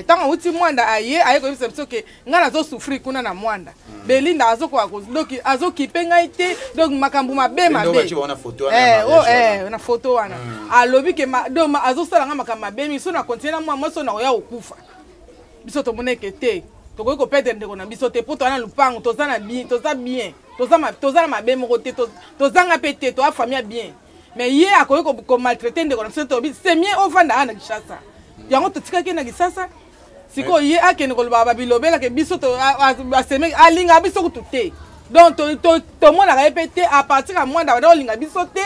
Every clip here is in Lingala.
ntango eh, awuti mwanda aye aye koyebisa biso ke ngai nazosouffrir kuna na mwanda hmm. belinda azokoka doki azokipe ngai te donc makambo mabe mabe eh, oh, eh, na foto wana hmm. alobi ke do azosala ngai makambo mabe mingi so na kontinue na mwa mwasi oyo nakoya kokufa biso tomoneke te tokoki kopedre ndeko na biso te mpo toza na lopango toza na bien toza bien toza na mabe moko te tozanga mpe te toa famille ya bien mais ye akoki komaltraite ndeko na biso tobi semie ovanda aa na kinshasa yango totikaki na kinshasa sikoyo ye akende kolobaka babilobelake biso aseme alingaka biso kutu te donc tomonaka ye mpe te a partir ya mwanda banda kolinga biso te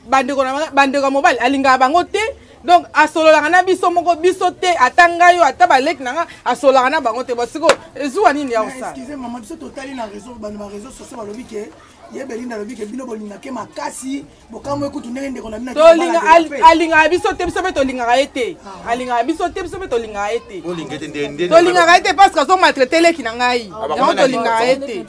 bandeko ya mobali alingaka bango te donc asololaka na biso moko biso te ata ngai yo ata baleki na nga asololaka na bango te bosiko ezuwa nini ya kosala ye belinda alobi ke bino bolinga ke makasi bokamwe kutu ndenge ndeko na binoalingaka biso te biso mpe tolingaka ye te ah. alingaka biso te biso mpe tolingaka ye te tolingaka ye te parce que azomaltraite leki na ngai ah, yango tolingaka ye te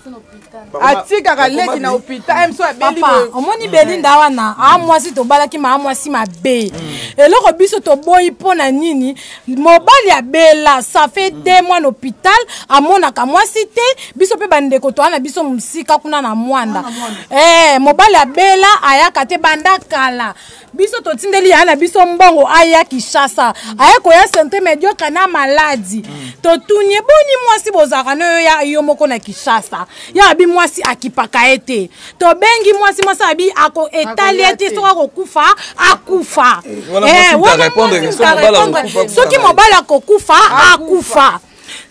atikaka leki na hôpital mso abeliomoni belinda wana amwasi tobalaki ma amwasi mabe hmm. eloko biso toboyi mpo na nini mobali ya bela ça fait mm. deux mois na hôpital amonaka mwasi te biso mpe bandeko toa na biso mosika kuna na mwanda ah, eh, mobali ya bela ayaka te banda kala biso totindeli ya na biso mbongo aya kishasa mm. aye koya sante mediocre na maladi mm. totuni eboni mwasi bozalaka nayo ya yo moko na kishasa ya abi mwasi akipaka ye te tobengi mwasi mwasi abi ako etali ye te soki akokufa akufa soki mobali akokufa akufa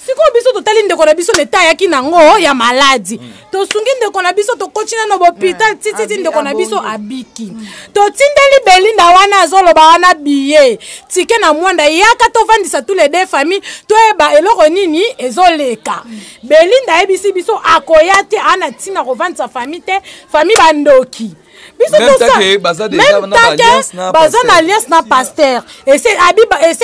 sikoyo biso totali ndeko na biso leta ayaki nango ya maladi mm. tosungi ndeko na biso tokoti nano bopital mm. tititi ndeko na biso abiki mm. totindeli belinda wana azoloba wana biye tike na mwanda yaka tovandisa tous les deux famille toyeba eloko nini ezoleka belinda ayebisi biso akoya te ana ntina kovandisa fami te fami bandoki biso tosame baza na alliance na paster ese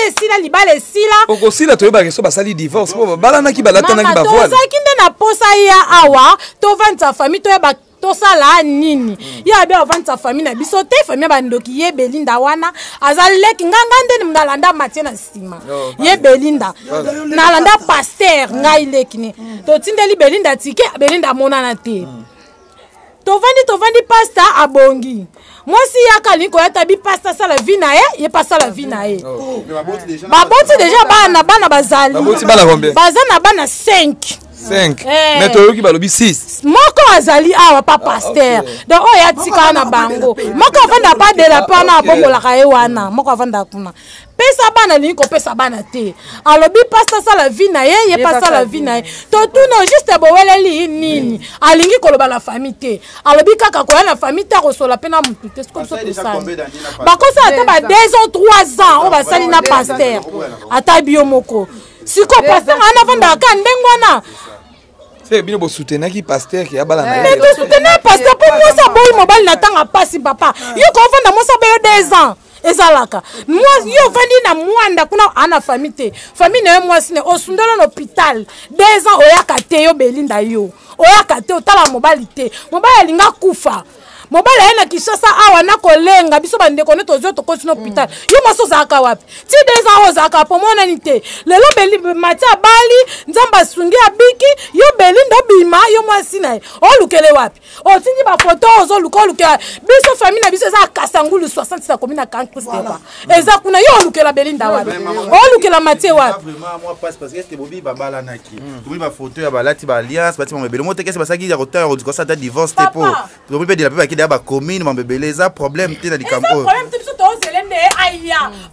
esila libala esila okosila toyebaka eso basali divorce mpo babalanaki balatanaki bavoile tozalaki nde na posa ya awa tovandisa fami toyebaka tosala nini ye abi avandisa famille na biso te famille ya bandoki ye belinda wana aza leki nga nga nde nalanda matie na nsima ye belinda nalanda paster ngai leki ne totindeli belinda tike belinda amonana te tovandi tovandi pasta abongi mwasi ye akali koya ta bipasi asala vi na ye ye pasala vi na ye oh, baboti deja bana bana bazali baza na bana 5 5 eh. mais toyoki balobi 6 moko azali awa pa ah, paster donc oyo atika na bango moko avanda pa dela mpe wana abongolaka ye wana moko avanda kuna pesa bana alingi kopesa bana te alobi pasi asala vi na ye ye mpe asala vi na ye totuna juste boweleli nini alingi koloba na fami te alobi kaka koya na fami te akosola mpe na motu te siko biso tosali bakosala ata ba 2 ans 3 ans oyo basali na paster ata bio moko siko paster ana afandaka ka ndenge wana seke bino bosutenaki paster ke abala na mais tosutena paster mpo mwasi aboyi mobali na ntango apasi papa yo koofanda mwasi aboyo 2 ans ezalaka mwasi yo ofandi na mwanda kuna ana fami te fami na yo mwasi ne osundolo na hôpital deux ans oyaka te yo belinda yo oyaka te otala mobali te mobali alinga kufa mobali aye na kinshasa awa nakolenga biso bandeko ne tozwi tokoti na hôpital mm. yo mwasi ozalaka wapi ti deux ans ozalaka po monani te lelo beli mati abali nzambe asungi abiki yo belinda obima yo mwasi na ye olukele wapi otindi bafoto ozoluka olukela biso famille na biso eza kasangulu 60 na komi na kankristeva eza kuna yo olukela belinda wapi olukela matie wapi tobi bafoto ya balati baalliance bati mambo ebele motekesi basalaki ya kotanga kodikosa ata divorce te po tobi mpe dela mpe bakidaya bacommune mambo ebele eza problème te na likambo oyo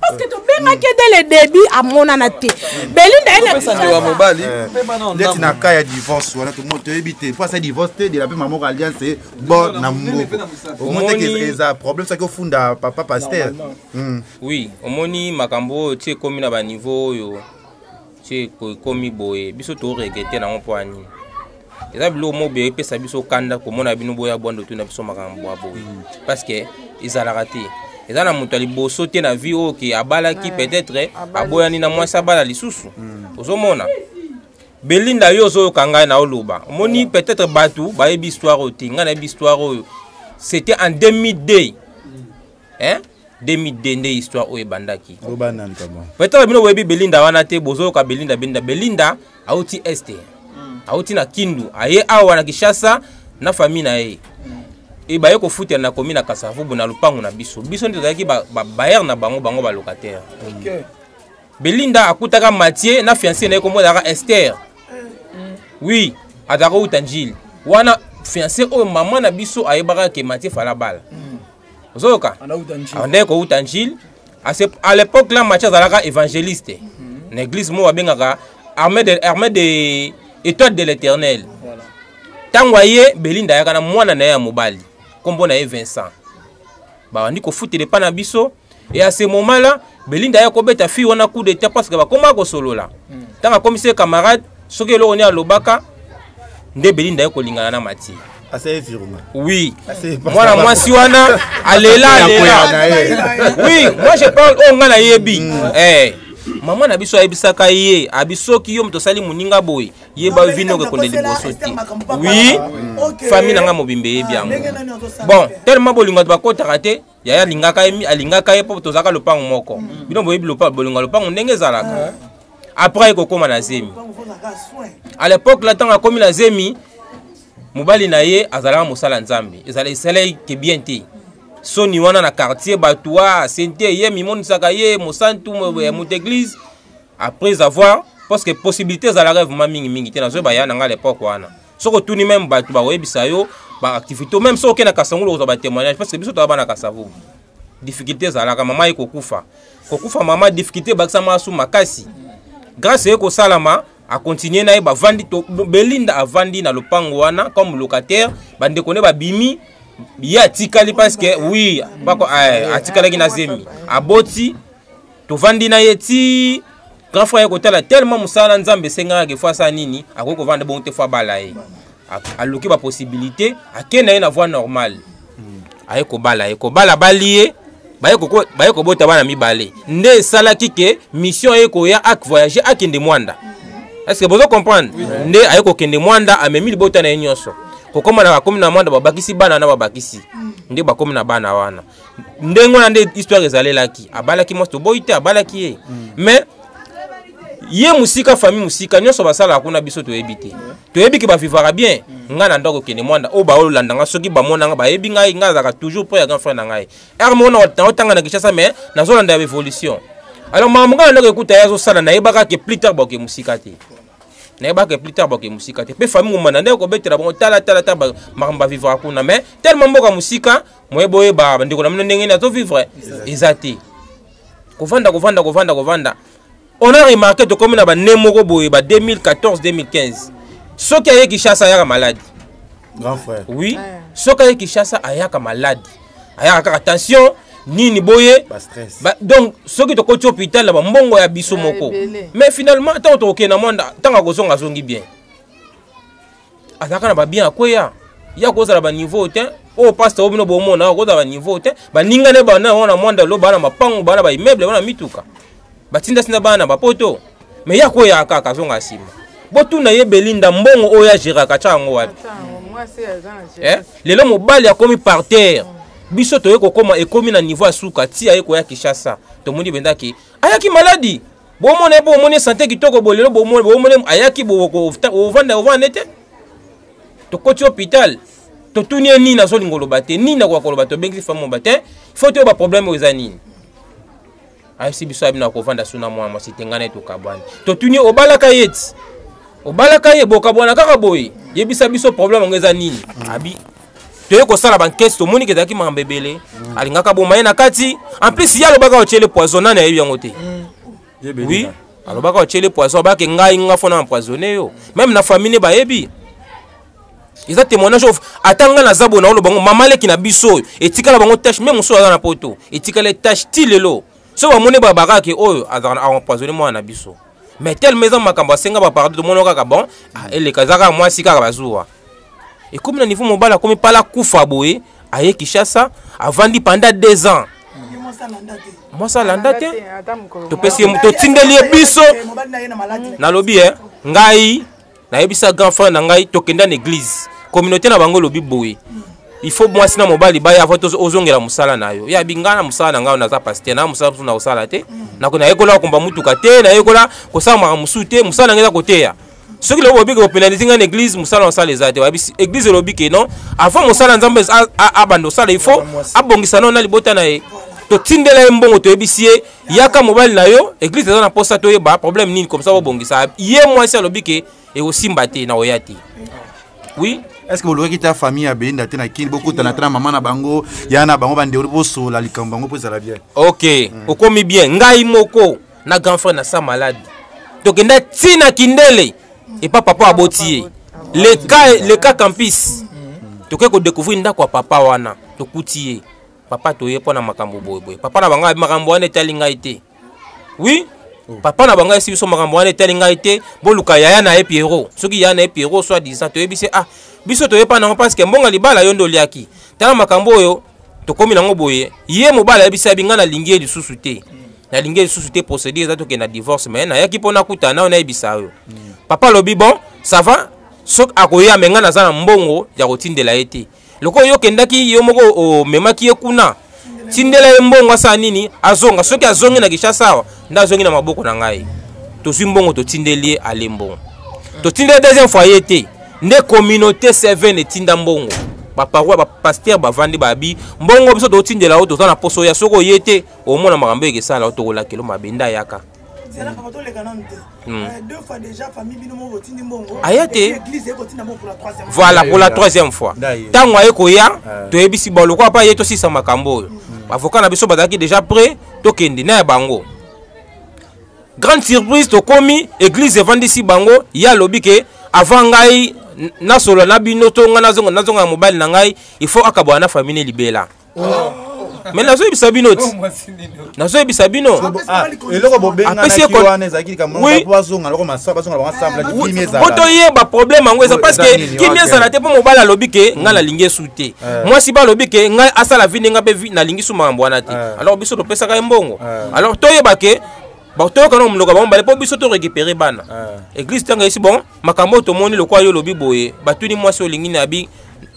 parce que tobengaki ye dès le début amonana te belinda yesandoa mobali ndeti na ka ya divorce wana toyebi te mpo asa divorce te dela mpe mamoko alliance ye bo na moko omoni eza problème soki ofunda papa paster oui omoni makambo oyo ti ekomi na baniveau oyo so ekomi boye biso to regrete nango mpo ya nini eza biloko moko boye epesa biso kanda komona bino boya bwando tuna biso makambo bwa boye mm. parce que ezalaka te eza na moto ya liboso te na vie oyo ke abalaki peut-être aboyani na mwasi abala lisusu mm. ozomona belinda yo ozoyoka ngai na oloba omoni peut-être bato bayebi histoire oyo te ngai nayebi histoire oyo c'était en 2002 hein 2002 nde histoire oyo ebandaki peut-être bino boyebi belinda wana te bozoyoka belinda belinda belinda auti este hmm. auti na kindu aye awa na kishasa na famille na ye hmm. ebaye kofutela na komi na kasavubu na lopango na biso biso nde tozalaki babayere na bango bango balocataire belinda akutaka matie na fianse na ye kombo ezalaka ester hmm. oui azalaka outa njili wana fianse oyo mama na biso ayebaka ke matie falabala ozoyoka abandaki kouta njile à l'époque là match azalaka évangéliste mhm. na église moko babengaka armée de, armée de étoile de l'éternel ntango aye belinda ayaka na mwana na ye ya mobali nkombo na ye vincent babandi kofutela epai na biso Et à ce moment-là, Belinda ya kobeta fille wana coup d'état parce que bakoma kosolola. Hmm. Tanga akomisi camarade soki eloko ni alobaka nde Belinda ya kolingana na Mati. Assez viruma. Oui. Mwana mwasi wana alela alela. Oui, moi je parle oh nga na yebi. Hmm. Eh. mama na biso ayebisaka ye abi soki yo moto osali moninga boye yeba yo vino okekonde liboso te wi famille na ngai mobimba eyebi ah, yango bon tellement bolingo bato bakotaka te yaya alingaka ye alingaka ye mpo tozalaka lopango moko mm. bino boyebi bolingo ya lopango ndenge ezalaka eh. après ye kokóma na zemi à l'époque la ntango akómi na zemi mobali na ye azalaka mosala nzambe ezala esalaki ke bien te soni wana na quartier bato wa sente ye mimonisaka ye mosantu ya mm. moto église après avoir parce que possibilité ezalaka vraiment mingimingi te nazoyeba ya na ngai à l'époque wana soki otuni meme bato bakoyebisa yo baactivité meme soki okenda kasangulu okozwa batémoignage parce que biso toza bana kasavu difficulté ezalaka mama ye kokufa kokufa mama difficulté ebakisama asu makasi grâce eye kosalama akontinue na ye bavandi belinda avandi na lopango wana comme locataire bandeko nde babimi ye atikali parce que oui bako eh, atikalaki na zemi aboti tovandi na ye ti grand frère kotala tellement mosala na nzambe esengaka ke fo asala nini akoki kovanda bongo te fo abala ye aluki bapossibilité ake na ye na voie normale hmm. aye kobala ye kobala bali ye baye kobota bana mibale nde esalaki ke mission ye koya ak voyage akende mwanda est ce que bozo comprendre nde aye kokende mwanda amemi libota na ye nyonso kokoma na bakomi na mwanda babakisi bana na babakisi hmm. nde bakomi na bana wana ndenge wana nde histoire ezalelaki abalaki mwasi toboyi te abalaki ye mm. mais ye mosika famille mosika nyonso basalaka kuna biso toyebi te toyebi ke bavivaka bien mm. ngai na ndako okende mwanda oyo baolanda ngai soki bamona ngai bayebi ngai ngai azalaka toujours mpo ya grand frère na ngai ere moko naotanga na kinshasa mais nazolanda ya evolution alors makambo ngai na ndako ekuta ye azosala nayebaka ke plus tard baoke mosika te nayebaka plus tard baoke mosika te mpe famille ngomana nde kobetela bango talatala ta makambo bavivaka kuna mais tellement mboka mosika moye boyeba bandeko na bino ndenge nini azovivre eza te kovanda kovanda kovanda kovanda on a remarqué tokomi na bane moko boye ba 2014 2015 soki aye kishasa ayaka maladi grand frère oui ah. soki aye kishasa ayaka maladi ayaka kaka tension nini boye ba, donc soki tokoti hôpital na bambongo ya biso ah, moko mais finalement ntango tokokende na mwanda ntango akozonga azongi bien azalaka na babien akweya ya kozala baniveau te oyo pasta oyo bino bomona okozala baniveau te baninga ne bana yango na mwanda lo bana mapango bana baimmeuble bana mituka batindasinda bana na bapoto me ya koya kaka azonga nsima botuna ye belinda mbongo oyo ageraka tya yango wapi eh? lelo mobali akomi par terre biso toye kokoma ekomi na niveau ya suka ti aye koya kishasa tomoni bendaki ayaki maladi bomona ye mpo omoni sante kitoko boye lelo bomoni ayaki ovanda ovanda ete tokoti hôpital totuni ye nini azolinga oloba te nini akoka koloba tobengisi femme oba te fo toyeba problème oyo eza nini ayebisi biso abino akovanda so na mwana mwasi te ngai na ye tokabwani totuni ye obalaka ye ti obalaka ye bokabwana kaka boye yebisa biso problème yango eza nini abi toye kosala bankesi tomoni ke ezalaki makambo ebele mm. alingaka boma ye na kati en plus ye alobaka otyele poison nani ayebi yango te mm. oui alobaka otyele poison abake ngai nga fona empoisonne yo meme na famille bayebi eza témoignage of ata ngai naza boye naoloba yango mama leki na biso oyo etikala bango tache meme mosusu aza na poto etikala tache ti lelo soki bamoni babakake oyo azalaka empoisonne mwana na biso mais tellement eza makambo asenga ba pardon tomono kaka bon ah, eleka eza kaka mwasi kaka bazuwa ekomi na niveau mobali akomi pala kufa boye aye kinshasa avandi panda deux ans mwasi alanda te topesi ye totindeli ye biso nalobi e ngai nayebisa grand frère na ngai tokenda na église communauté na bango elobi boye il faut mwasi na mobali baya avant ozongela mosala na yo yabi ngai na mosala na ngai naza pasteur na mosala mosusu na kosala te nako nayekola kokumba motuka te nayekola kosala makambo mosusu te mosala na ngai eza koteya soki lelo bobi kopénalise ngai na église mosala mosala eza te bayebi église elobi ke non avant mosala nzambe abanda osala il faut abongisa nao na libota na ye totindela ye mbongo toyebisi ye yaka mobali na yo eglise eza na mposa toyeba problème nini comme ça bobongisa ye mwasi alobi ke ekosimba te na oya te oui est ce que bolobaki ta famille ya beyinda te na kini bokutana te na mama na bango ya na bango bandewoli bosola likambo bango mpo ezala bien ok mm. okomi bien ngai moko na grand frère na sa malade tokenda ti na kindele epa papa aboti ye leka leka campus mm. tokoki kodécouvrir ndako ya papa wana tokuti ye papa toye mpo na makambo boyeboye papa na bango makambo wana etali ngai te wi mm. papa na bango esi biso makambo wana etali ngai te boluka yaya na ye piero soki yaya na ye piero soit disant toyebi se ah biso toyepa nango parceke mbonga libala yo nde oliaki tala makambo oyo tokomi nango boye ye mobali ayebisa yabi ngai nalingi ye lisusu te nalingi ye lisusu te procédure eza tokende na divorce mai nayaki mpo nakutana nayo nayebisa yo mm. papa alobi bon ça va soki akoya me ngai naza na mbongo ya kotindela ye te lokola yo okendaki yo moko omemaki ye kuna tindela ye mbongo asala nini azonga soki azongi na kishasa awa nde azongi na maboko na ngai tozwi mbongo totindeli ye ale mbongo totindeli deuxième fois ye te nde communauté seven etinda mbongo baparoi bapaster bavandi babi mbongo biso totindela yo toza na poso ya soki oye te omona makambo ekesala yo tokolakelo mabe nde ayaka zela papa toleka nanu te hmm. euh, deux fois déjà famille bino moko botindi mbongo aya te église eye kotinda mbongo pour la troisième voilà pour la troisième fois ntango aye koya toyebisi bango lokola mpa ye tosisa makambo oyo hmm. avocat na biso bazalaki déjà près tokende na ya bango grande surprise tokomi église evandisi bango ye alobi ke avant ngai nasolola na bino to ngai nazonga nazonga ya mobali na ngai il faut akabwana na famille libela me nazoyebisa bino ti nazoyebisa bino po toyeba problème yango eza parce que kimia ezala te mpo mobali alobi ke ngai nalingi esu te mwasi balobi ke ngai asala vi ndenge mpe nalingi su makambo wana te alors biso topesaka ye mbongo alors toyeba ke toyoka na monoko bango bale mpo biso to récupérer bana église ntango esi bon makambo oyo tomoni lokola yo olobi boye batuni mwasi olingi na bi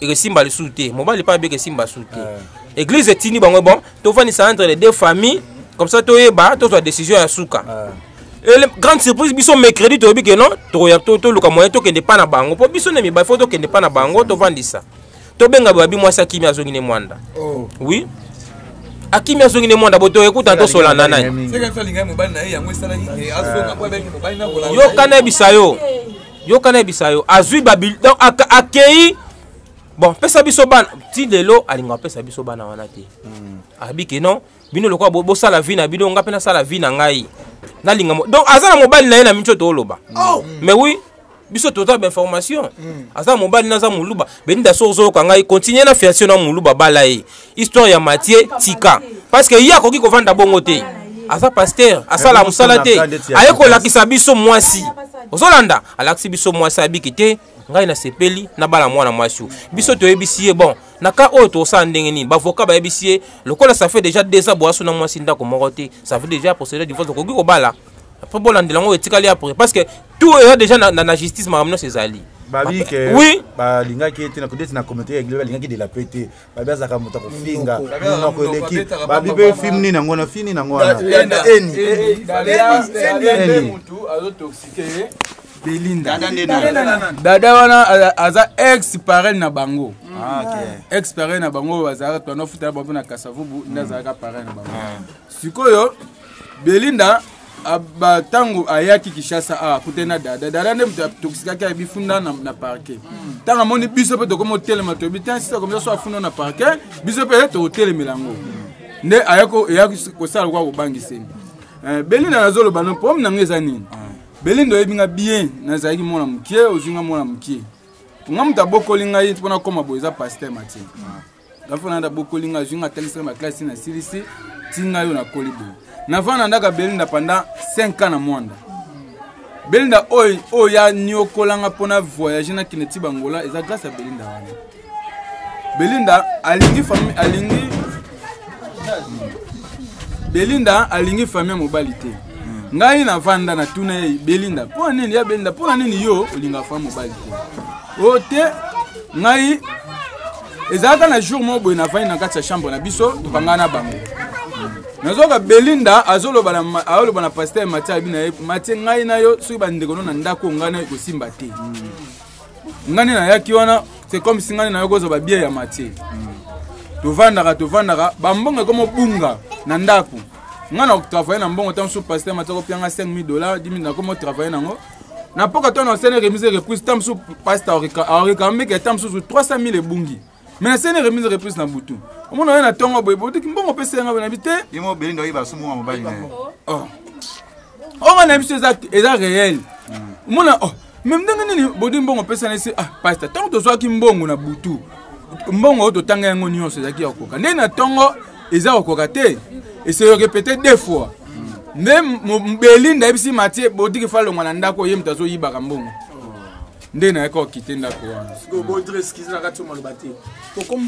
ekesimba lisusu te mobali mpe abe ekesimba su te eh. église etindi bango bon tofandisa entre les deux familles comme ça toyeba tozwa décision ya suka eh. ele grande surprise biso mercredi toyebi ke non toluka moyen tokende mpa na bango mpo biso na mibali fo tokende mpa na bango tofandisa tobenga babi mwasi akimi azongi ne mwanda oh. oui akimi azongi ne mwanda boto ekuta tosolana nani yoka nayebisa yo yoka nayebisa yo azwi babil donc akei bon pesa biso bana ti lelo alinga apesa biso bana wana te hmm. abi ke non bino lokola bosala vi na bino nga mpe nasala vi na ngai nalinga donc aza na mobali na ye na minso tooloba oh. mais oui biso toza ba information mm. aza mobali naza muluba beninda soki ozoyoka ngai continue na fiance na muluba bala ye histoire ya matie tika parce que ye akoki kovanda bongo te aza pasteur asala mosala te aye kolakisa biso mwasi ozolanda alakisi biso mwasi abiki te ngai nasepeli nabala mwana mwasi biso toyebisi ye bon na ka oyo tosala ndenge nini bavoka bayebisi ye lokola ça fait déjà deux ans boaso na mwasi ndako moko te ça fait déjà procédure divorce okoki kobala mpo bolandela yango etikali apre parce que tout eza déjà na, na, na justice makambo nyonso ezali babi ke oui. balingaki ye te nakondeti na commentaire ya balingaki de la paix te babi azalaka moto akofinga monoko eleki babi mpe film nini yango na fini nango wana belinda dada wana aza ex parel na bango ah, ex parel na bango bazalaka twana futala bango na kasavubu nde azalaka parel na bango ah. sikoyo belinda ntango ayaki kishasa awa kute na dada dada nde moto atokisikaki ayebi funda na, na parke ntango amoni biso mpe tokomi otelema toyebi te sisa komisa so afunda na parke biso mpe tokotelemela yango nde ayaki kosala lokola kobangiseni eh, belinda nazoloba no problème na yango eza nini ah. belinda oyebi nga bien nazalaki mwana mokie ozwi nga mwana mokie nga moto abokoli ngai mpo nakoma boye eza paster matin ah. nafana nda bokoli nga azwi nga atangisi nga baklasi nasilisi ti nga yo nakoli boye nafana ndaka belinda pendant 5 ans na mwanda belinda oyo oyo ya niokola nga mpo na voyage nakende ti bangola eza grâce ya belinda wana belinda alingi famille alingi belinda alingi famille ya mobali te hmm. ngai navanda natuna ye belinda mpo na nini ya belinda mpo na nini yo olingaka famille mobali te o te ngai ezalaka na jour moko boye navandi na kati ya chambre na biso tokangana na bango nazoka belinda azoloba na paster mati abi na ye mati ngai na yo soki bandeko no na ndako ngai nayo ekosimba te ngai nde nayaki wana c'est comme si ngai nayo kozwa babie ya mati tovandaka tovandaka bambongo ekoma obunga na ndako ngai na travaille na mbongo ntango mosusu paster mati akopianga 5000 dollar 10 000 nakoma travaille nango na mpoka to na sene remise reprise ta mosusu pasta aorekameke ta mosusu 300 000 ebungi me na sene remise reprise na butu omona oye na ntongo boye boyoki mbongo mpe senga boye na bi te onga na biso eza réel omona oh, me ndenge nini bodi mbongo opesana esi ah pasta ntango tozwaki mbongo na butu mbongo oyo totanga yango nyonso ezalaki ya kokoka nde na ntongo eza kokoka te eseyoke peut-être deux fois nde belinda ayebisi matie bodiki fa longwa na ndako ye moto azoyibaka mbongo nde nayaki kokite ndako wanaakombo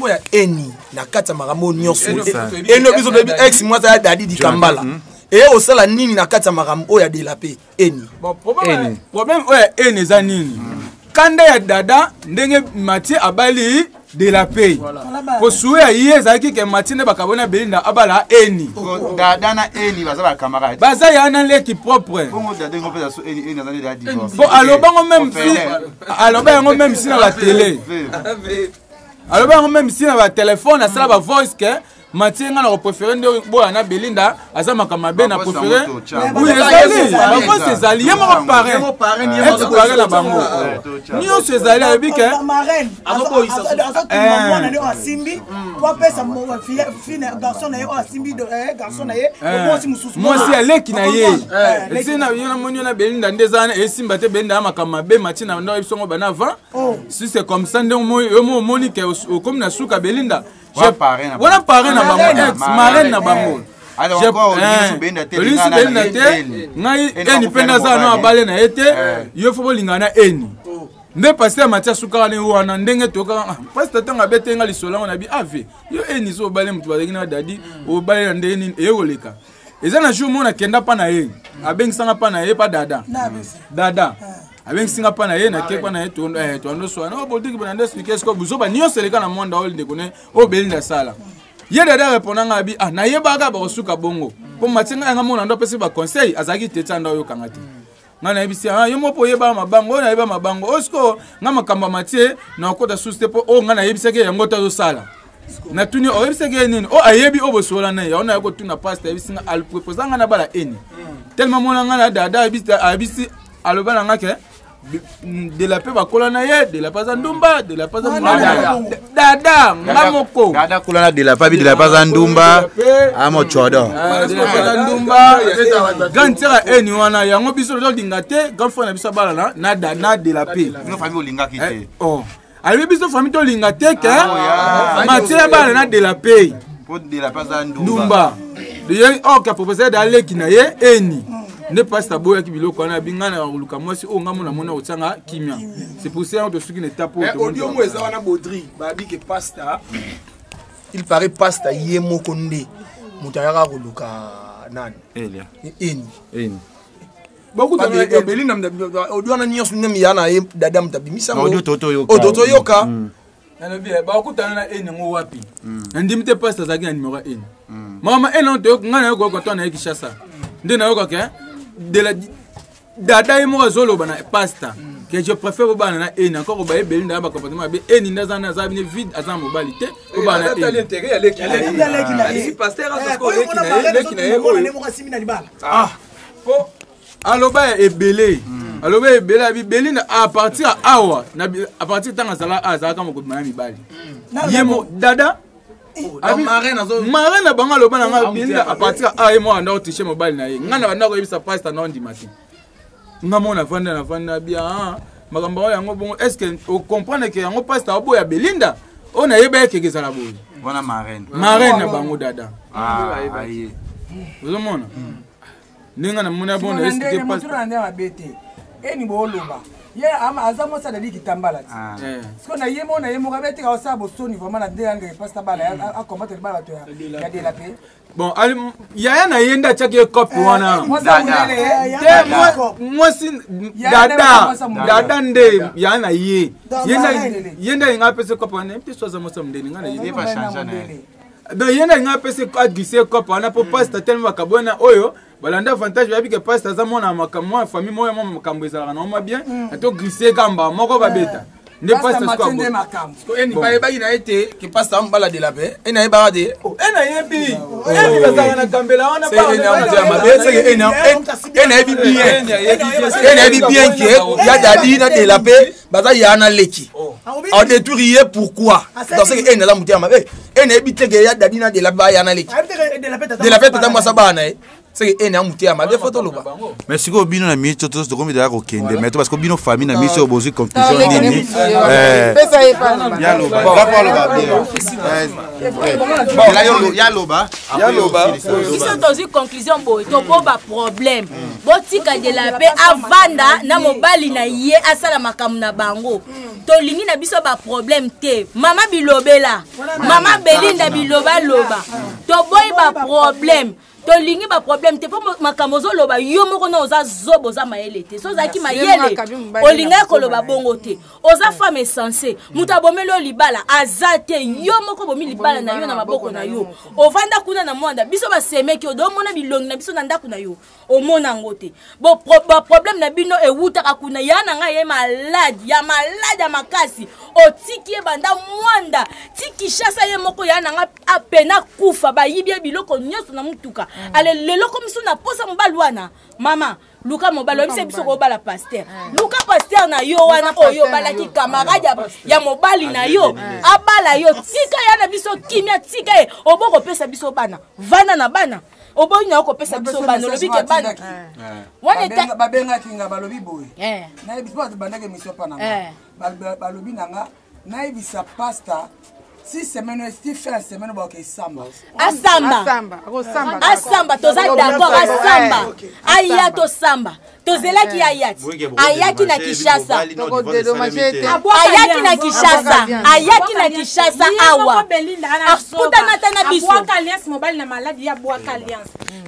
oh, ya eni na kati ya makambo oyo nyonso eno biso toyebi ex mwasi ya dadi dikambala eye kosala nini na kati ya makambo oyo ya delape eni bon, problème, eni. problème oyo ya eni eza nini mm. kanda ya dada ndenge matie abali de la pay voilà. kosuwe ya ye ezalaki ke matie nde bakabona belinda abala eni dada na eni baza bacamarade baza ya na leki propre po aloba yango meme si aloba yango meme si na batele aloba yango meme si na batelefone asala bavoice ke matie nga na koprefere nde boya na belinda aza makambo mabe na prefere bakosi ezali ye moko parein ete parein na bango nyonso ezali ayebi ke mwasi ya leki na ye esi na yo namoni yo na belinda nde eza wana esimba te belinda ya makambo mabe matie na ndo yebisongo bana avant si c'est comme ça nde yo mo omoni ke okomi na suka belinda wana parrain na bango ex marraine na bango olisu belinda te ngai eni mpe naza no abale na ye te eh. yo fo bolingana na eni oh. nde paster matia sukaka ne wana ndenge tokaka ah, paster ntango abete nga lisolo yango na bi ave ah, yo eni so obale moto bazalaki na dadi hmm. obale na ndenge nini eye koleka eza na jour moko nakenda mpa na ye hmm. abengisanga mpa na ye mpa dada dada eh. abengisi nga mpa na ye nake mpa na ye toandoswana eh, o politiki bana nde explike siko buzoba nyonso eleka na mwanda oyo ndeko ne oyo belinda asala ye dada reponda nga abi ah nayebaka bakosuka bongo mpo matie ngai yanga mona ndo apesi baconseil azalaki te tia nda oyokanga te ngai nayebisi ah, yo moko oyeba mabango oyo nayeba mabango oyo sikoyo ngai makambo ya matie nakota susu te mpo oyo oh, ngai nayebisaki yango te azosala natuni oyebisaki ye nini o oh, ayebi oyo oh, bosola na ye yango naye kotuna pasta ayebisi nga alpropose ngai na bala eni hmm. tellement mona ngai na dada ayebisi aloba na nga ke delape bakola na ye delape aza ndumba delape aza dada nga moko dada kola na delape abi delape aza ndumba amocodo ndumba grand sera eni wana yango biso tozolinga te grand frère na biso abalana na delape olingaki te alobi biso fami tolinga te ke ah, matie ya bana na de la pay ndumba ye oka oh, professeur da leki na ye eni nde mpasi aboyaki biloko wana abi ngai na koluka mwasi oyo ngai mona mona kotyanga kimia c'est pour ça yango tosuki na etape eh, oyoodiomo eza wana bodri babi ke pasta il paraît pasta ye moko nde moto ayaka koluka nani eni bakutabeli na audio wana nyonso nde miya na ye dada moto abimisa oyo totoyoka mm. nalobi eh, bakutana na ene yango wapi mm. nandimi te pasi azalaki na nimero ya ene mm. mama ene toyoka ngai nayoka yoka to na ye kishasa nde nayokaka eh, de la dada ye moko azoloba na pasta que je préfère obana na eni encore obaye beli ndaya bacomportement mabe eni nde aza aza bine vide aza mobali te obana na eni pasteur azokoki oleki na ye oleki na ye oyo po aloba ya ebele hmm. aloba ebele ya bibeli na a partir ya awa a partir ntango azala azalaka mokobi maya mibali hmm. ye mo dada mare na bango aloba na ngai belinda a partir ya aye mwana ndako tiche mobali na ye ngai na bandako oyebisa pasta na ondima te nga mona vanda na vanda bia makambo oyo yango bongo est ce que ocomprendre ke yango pasta oboya belinda oyo nayebaki keke ezala boye wana marraine marraine na bango dada ah, ozomona hmm. ndenge namona bona estike pasta eni booloba ye aza mwasi alali kitambala ti ah. eh. siko na ye mona ye moko abetika osala bosoni vraimen na nde yanga epasta bala akombatre bala bato ya dela mpe bon yaya na ye nde atyaki ye cope eh, wana eh, te mwasi dada dada nde yaya na ye ye nde alinga apesa cope wana mpe so aza mwasi ya mondele nga na ye donc ye nde alinga apesa aglise cope wana mpo pasta telema bakabwana oyo balanda avantage bayebi ke pasta aza mwana ya makambo mwana famille moko ya mwa makambo ezalaka na oma bien ato glisse kamba moko babeta nde pasta Pasta Mathieu nde sikoyo makambo. Ko eni bayebaki na ye te ke pasta amubala de la paix eni ayebaka te ena yebi eni bazalaka na gambela wana Se eni amuta ya mabe seke eni am- eni- eni ayebi bien eni ayebi bien ke ya dadi na de la paix baza ya na leki oh. adetruire ye pourquoi dans ce que ene aza motema mabe ene eyebi te ke ya dadi na delape ba ya na leki delape tata mwasi abaa na ye seke ene ya motema mabe fo toloba mais sikoyo bino na minute totosi tokomi daya kokende mais to parce que bino famille na minute oyo bozwi conclusion nini yaloba yaloba biso tozwi conclusion boye toboba problème botika de la paix avanda na mobali na ye asala makambo na bango tolingi na biso baproblème te mama bilobela mama belinda bilobaloba toboyi baproblème tolingi baproblème te mpo makambo ozoloba yo moko na oza zobo oza mayele te so ozalaki mayele olingaki koloba bongo te oza femme esense moto abomeli oyo libala aza te yo moko obomi libala na yo na maboko na yo ovanda kuna na mwanda biso basemeki odo omona bilongi na biso na ndako na yo omona yango te baproblème na bino ewutaka kuna ya na ngai ye malade ya malade ya makasi otiki ye banda mwanda ti kishasa ye moko ya na ngai apena akufa bayibi ye biloko nyonso na motuka mm. ale lelo komiso na posa mobali wana mama luka mobali oyebisa biso kobala paster ah. luka paster na yo wana oyo obalaki kamarade ya mobali na yo abala yo tika ya na biso kimia tika ye obo kopesa biso bana vanda na bana oboyi na yo kopesa biso bana olobi ke bana wana babengaki nga balobi boye eh. nayebi bandaki emission mpa na nga eh. balobi na nga nayebisa pasta si semaine oyo esti fin ya semaine oyo baoke esamba asamba asamba toza d'accord asamba aya tosamba tozelaki ye ayaki ayaki na kinshasa ayaki na kinshasa ayaki na kinshasa awa akutanata na biso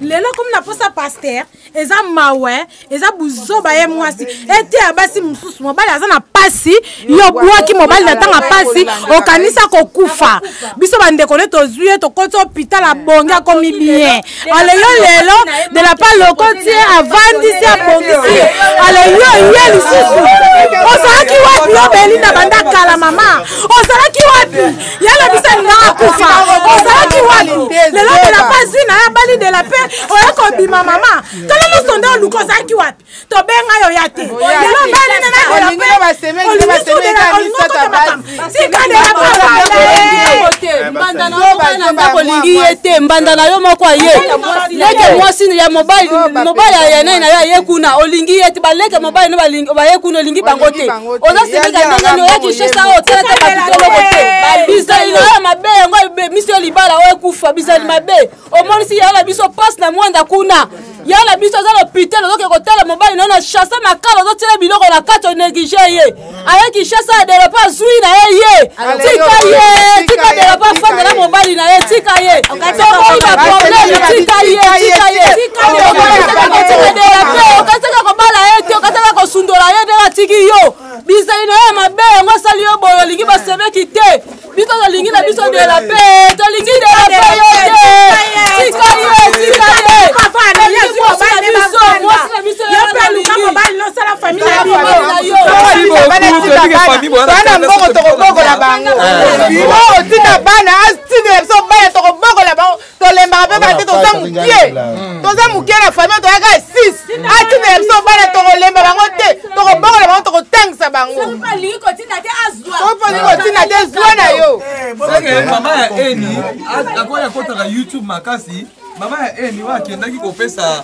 lelo komi na posa paster eza mawa eh. eza buzoba ye mwasi eteya basi mosusu mobali aza na pasi yo bwaki mobali na ntanga pasi okanisa kokufa biso bandeko nde tozwi ye tokoti hopital abongi akomi bien ale yo lelo de la part lokoti ye avandisi abongisi ye ale yo ye lisusu ozalaki wapi obeli na banda kala mama ozalaki wapi yala bisani na akufa ozalaki wali lelo de la paix zwi na ya bali de la paix oye kobima mama tala nyonso nde oluka ozalaki wapi tobenga yo ya te lelo bani na na de la paix olingi de la olingi okota makambo tika de la paix olingi ye te mbanda na yo moko aye leke mwasi ya mobali mobali ya nai na yo aye kuna olingi ye te baleke mobali na baye kuna olingi bango te oza semeka ndenge nini oya kinshasa oyo otalaka babitoloko te bizali na oyo mabe yango ebemisi yo libala oyo ekufa bizali mabe omonisi yango na biso mpasi na mwanda kuna ya na biso aza lopitel ozoke kotala mobali nayo na chasse makala ozotyela biloko na kati oneglige ye aye kinshasa adelope azwi na ye ye tika ye tika dela bafanda na mobali na ye tika ye tokoyi baprobleme tika ye tika ye okotika dela mpe okataka kobala ye te okataka kosundola ye ndenge atiki yo bizali na ye mabe yango asali yo boyo olingi basemeki te biso tolingi na biso dela mpe tolingi dela mpe yo te tika ye tika ye biso mwasi na biso yo mpe alingi sala famille na bino bana mbongo tokobokola bango bino otinda bana atinda biso bana tokobokola bango tolembaka mpe bana te toza mokie toza mokie na famille toyaka six atinda biso bana tokolemba bango te tokobokola bango tokotangisa bango soki olingi kotinda te zwa na yo mama ya eni akoya akotaka youtube makasi mama ya eni oyo akendaki kopesa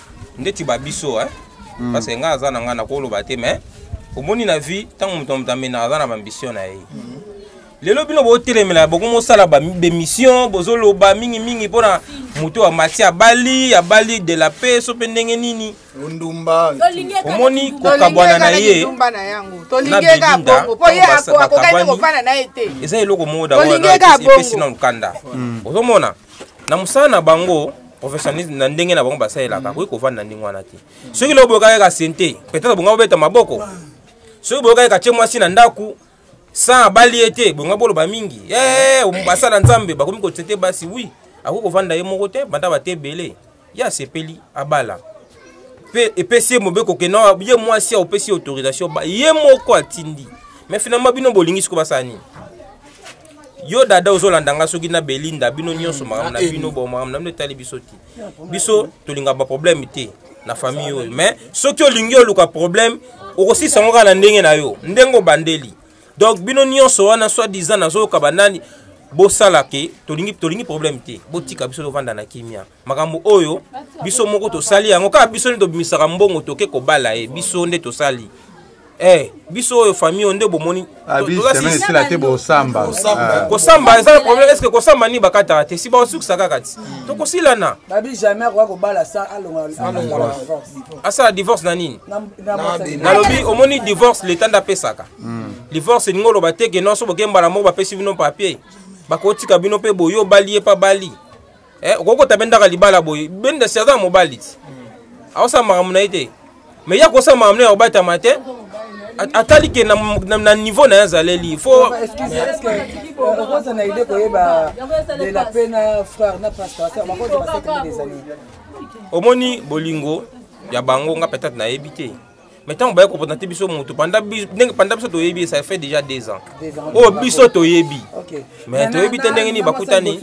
ndeti ba biso hein mm. parce que nga aza na nga na koloba te mais omoni na vie ntango moto moto amena aza na bambition na ye mm. lelo bino botelemela bokomosala bemission bozoloba mingimingi mpona moto ya mati abali abali de la paix so mpe ndenge nini ndumba omoni kokabwana na ye eza eloko moko daepesi na lukanda ozomona na mosala na bango professionnalisme na ndenge na bango basalelaka akoki kovanda na ndenge wana te soki leo boyoka kaka sente peut-être bonga bobeta maboko soki boyoka kaka tie mwasi na ndako sans abali ye te bonga boloba mingi eh, basala nzambe bakomi kosete basi wi akoki kovanda ye moko te banda bate ebele ye asepeli abala mpe epesi ye mobeko ke na ye mwasi aopesi ye autorisation ba ye moko atindi mais finalement bino bolingi siko basala nini yo dada ozolanda nga soki na belinda bino nyonso mm, makambo na bino bo makambo na bino etali biso te biso tolinga baproblème te na famille oyo mais soki olingi oluka problème okosilisa yango kaka na ndenge na yo ndenge obandeli donc bino nyonso wana soit disant nazoyoka banani bosala ke tolingi tolingi problème te botika biso tovanda na kimia makambo oyo biso moko tosali yango kaka biso nde tobimisaka mbongo toke kobala ye biso nde tosali Eh, biso oyo famille oyo nde bomoni ah, esila te bosamba ah. kosamba eza na problème estce kosamba nini bakataka te si baosukisa kaka ti hmm. tokosilana asala divorce na nini nalobi omoni divorce leta nde apesaka hmm. divorce elingi oloba te ke nonso boke mbala moko bapesi bino papier bakotika bino mpe boye obali ye mpe abali eh, okoki kota bendaka libala boye benda si aza mobali ti hmm. aosala makambo na ye te mais ye akosala makambo na ye akobatama te atali ke na niveau na ye azaleli fo okoza na idee koyeba de la pe na frère na pasteur omoni bolingo ya bango nga peut-être nayebi te mais ntango baye kopona te biso motu ndenge panda biso toyebi ça fait déjà deux ans oyo oh, biso toyebi mais toyebi te ndenge nini bakutani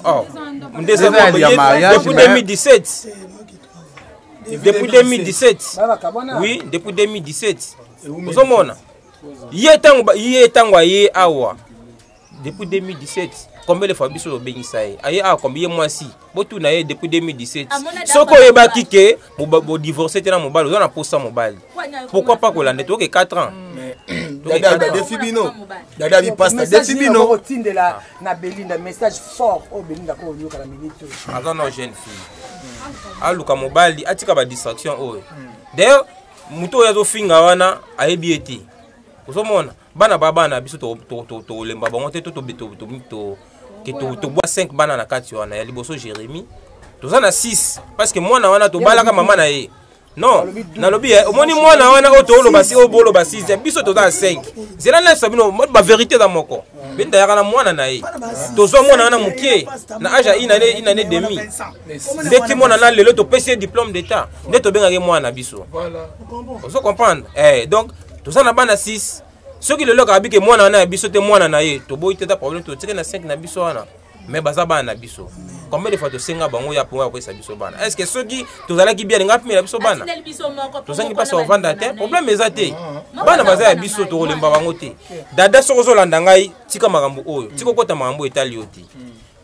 oh, depuis 2017 depuis 2017 oui depuis 2017 ozomona ye ntango aye awa depuis 2017 combien de fois biso tobengisa ye aye awa ah, combien ye mwasi botuna ye depuis 2017 soki oyebaki ke bodivorce te na mobali oza na posa mobali pourquoi pas kolanda toyoke 4 ans defi bino dada bipasta defi bino otindela na belinda message fort oyo belinda ko oyoka na minute oyo aza na jeune fille aluka mobali atika badistraction oyo d'ailleurs moto oyo azofinga wana ayebi ye te ozomona bana ba bana biso tolemba bango te tobwa 5 bana na kati wana ya liboso jérémi toza na 6 parce que mwana wana tobalaka mama na ye non nalobi eh, omoni mwana wana oyo tooloba si oyo boloba 6 eh, biso toza na 5 zela nayebisa bino baverité eza moko benda yaka na mwana na ye tozwa mwana wana moke na age ya inane inane demi nde ti mwana na lelo topesi ye diplôme d'état nde tobengaki mwana biso ozo comprendre eh, donc toza na bana 6 soki lelo kaka bike mwana wana ya biso te mwana na ye toboyi te ta problème totike na 5 na biso wana mais baza bana na biso combien de fois tosenga bango ya mpo ya koyesa biso bana est ce que soki tozalaki bien alinga apimela biso bana tozangi mpasi kovanda te problème eza te bana baza ya biso tokolemba bango te dada soki ozolanda ngai tika makambo oyo tika okota makambo oyo etali yo te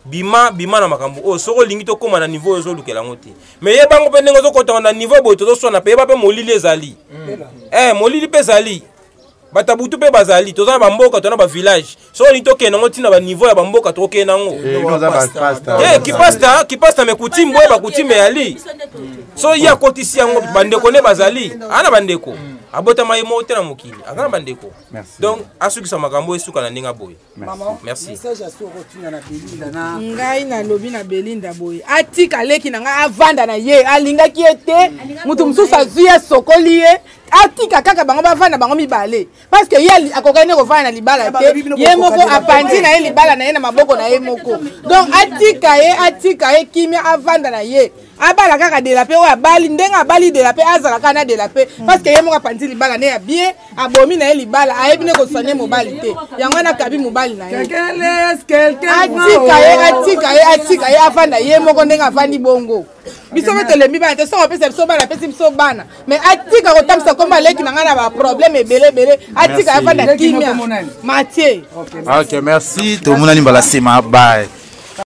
bima bima na makambo oyo soki olingi tokóma na niveau oyo ozolukela yango te me yeba yango mpe ndenge ozokotaka na niveau boye tozoswana mpe yeba mpe molili ezali mm. eh, molili mpe ezali bato ya butu mpe bazali toza na bamboka to na bavillage soki olingi tokende yango ntina baniveau ya bamboka tokokende yango eh, eh, kipasta kipasta me kutime boye bakutime eyali so ye akotisi yango bandeko nde bazali aa na bandeko mm. abotama ye moko te na mokili aza na bandeko donc asukisa makambo esuka na ndenge aboye Maman, Merci. message ya soko tuna na Belinda na ngai nalobi na belinda boye atika leki na ngai avanda na ye alingaki ye te moto mosusu azwi ye asokoli ye atika kaka bango bavanda bango mibale parce que ye ali- akokaki nde kovanda na libala Ya, te balobi bino ye moko kokokana na apanzi libala. na ye libala na ye na maboko na ye moko donc atika ye atika ye kimia avanda na ye abala kaka de la paix oyo abali ndenge abali de la paix azala kaka na de la paix mm. parce que ye moko apanzi libala ne ya bien abomi na ye libala ayebi ne koswane mobali te yango wana akabi mobali na ye atika ye atika ye atika ye afanda ye moko ndenge afandi bongo biso mpe tolembi bana te soki opesa biso bana apesi biso bana me atika kotambisa kombo aleki na ngai na baproblème ebele ebele atika afanda kimia matie ok merci tomonani mbala nsima baye